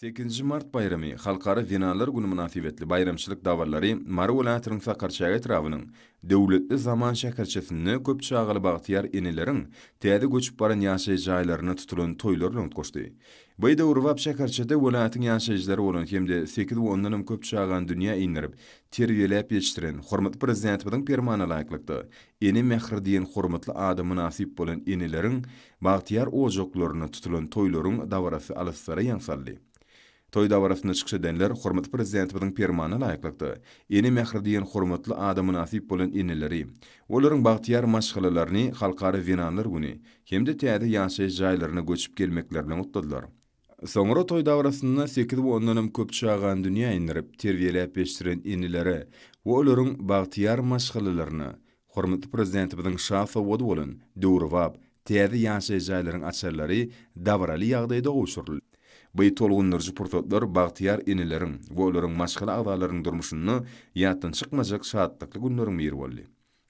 Sekizinji mart baýramy, Halkara zenanlar güni mynasybetli baýramçylyk dabarlary Mary welaýatynyň Sakarçäge etrabynyň Döwletli zaman şäherçesinde köp çagaly bagtyýar eneleriň täze göçüp baran ýaşaýyş jaýlarynda tutulan toýlar bilen utgaşdy. By döwrebap şäherçede welaýatyň ýaşaýjylary bolan hem-de sekiz we ondanam köp çagany dünýä indirip, terbiýeläp ýetişdiren, hormatly Prezidentimiziň Permana laýyklykda, Ene mähri diýen hormatly ada mynasyp bolan eneleriň bagtyýar ojaklarynda tutulan toýlaryň dabarasy alyslara ýaň saldy. Toý dabarasynda çykyş edenler hormatly Prezidentimiziň Permanyna laýyklykda, Ene mähri diýen hormatly ada mynasyp bolan eneleri, olaryň bagtyýar maşgalalaryny Halkara zenanlar güni hem-de täze ýaşaýyş jaýlaryna göçüp gelmekleri bilen gutladylar. Soňra toý dabarasynda sekiz we ondanam köp çagany dünýä indirip, terbiýeläp ýetişdiren enelere we olaryň bagtyýar maşgalalaryna hormatly Prezidentimiziň şa sowgady bolan döwrebap täze ýaşaýyş jaýlaryň açarlary dabaraly ýagdaýda gowşuryldy. Bu tolgundyryjy pursatlar bagtyýar eneleriň we olaryň maşgala agzalarynyň durmuşynda ýatdan çykmajak şatlykly günleriň biri boldy.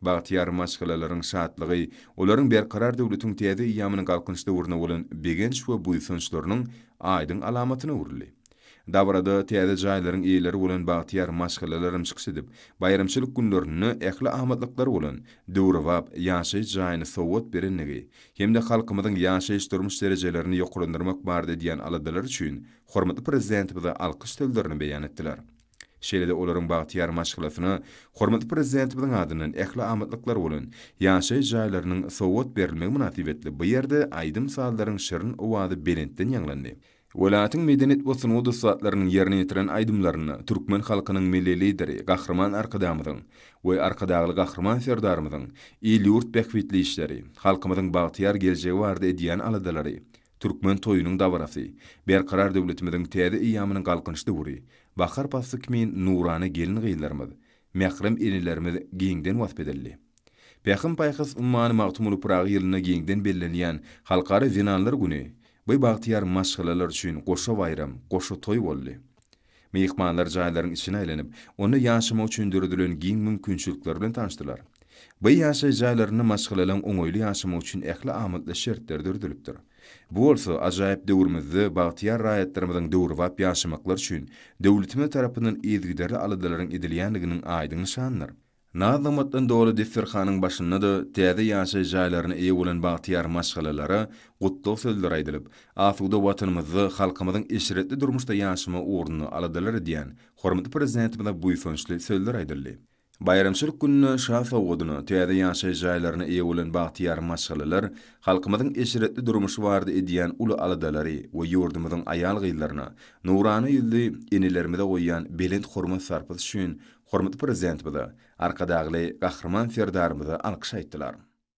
Bagtyýar maşgalalaryň şatlygy, olaryň Berkarar döwletiň täze eýýamynyň Galkynyş döwrüne bolan begenç we buýsançlarynyň aýdyň alamatyna öwrüldi. Dabarada täze jaýlaryň eýeleri bolan bagtyýar maşgalalaram çykyş edip, baýramçylyk günlerinde ähli amatlyklary bolan döwrebap ýaşaýyş jaýyny sowgat berendigi hem-de halkymyzyň ýaşaýyş-durmuş derejelerini ýokarlandyrmak barada edýän aladalary üçin hormatly Prezidentimize alkyş sözlerini beýan etdiler. Şeýle-de olaryň bagtyýar maşgalasyna hormatly Prezidentimiziň adyndan ähli amatlyklar bolan ýaşaýyş jaýlarynyň sowgat berilmegi mynasybetli bu ýerde aýdym-sazlaryň şirin owazy belentden ýaňlandy. Welaýatyň medeniýet we sungat ussatlarynyň ýerine ýetiren aýdymlarynda türkmen halkynyň Milli Lideri Gahryman Arkadagymyzyň we Arkadagly Gahryman Serdarymyzyň il-ýurt bähbitli işleri, halkymyzyň bagtyýar geljegi barada edýän aladalary Türkmen toýunyň dabarasy, Berkarar döwletimiziň täze eýýamynyň galkynyş döwri, bahar pasly kimin nurana gelin-gyzlarymyz, mährem enelerimiz giňden wasp edildi. Pähim-paýhas ummany Magtymguly Pyragy ýylynda giňden bellenilýän Halkara zenanlar güni bi bagtyýar maşgalalar üçin goşa baýram, goşa toý boldy. Myhmanlar jaýlaryň içine aýlanyp, onda ýaşamak üçin döredilen giň mümkinçilikler bilen tanyşdylar. By ýaşaýyş jaýlarynda maşgalalaryň oňaýly ýaşamagy üçin ähli amatly şertler döredilipdir. Bu bolsa ajaýyp döwrümizde bagtyýar raýatlarymyzyň döwrebap ýaşamaklary üçin döwletimiz tarapyndan yzygiderli aladalaryň edilýändiginiň aýdyň nyşanydyr. Naz-nygmatdan doly desterhanyň başynda-da täze ýaşaýyş jaýlaryna eýe bolan bagtyýar maşgalalara gutlag sözleri aýdylyp, asuda Watanymyzda halkymyzyň eşretli durmuşda ýaşama ugrunda aladalar edýän hormatly Prezidentimize buýsançly sözler aýdyldy. Baýramçylyk gününe şa sowgadyna täze ýaşaýyş jaýlaryna eýe bolan bagtyýar maşgalalar halkymyzyň eşretli durmuşy barada edýän uly aladalary we ýurdumyzyň aýal-gyzlaryna, nurana ýüzli enelerimize goýýan belent hormat-sarpasy üçin Hormatly Prezidentimize, Arkadagly Gahryman Serdarymyza alkyş aýtdylar.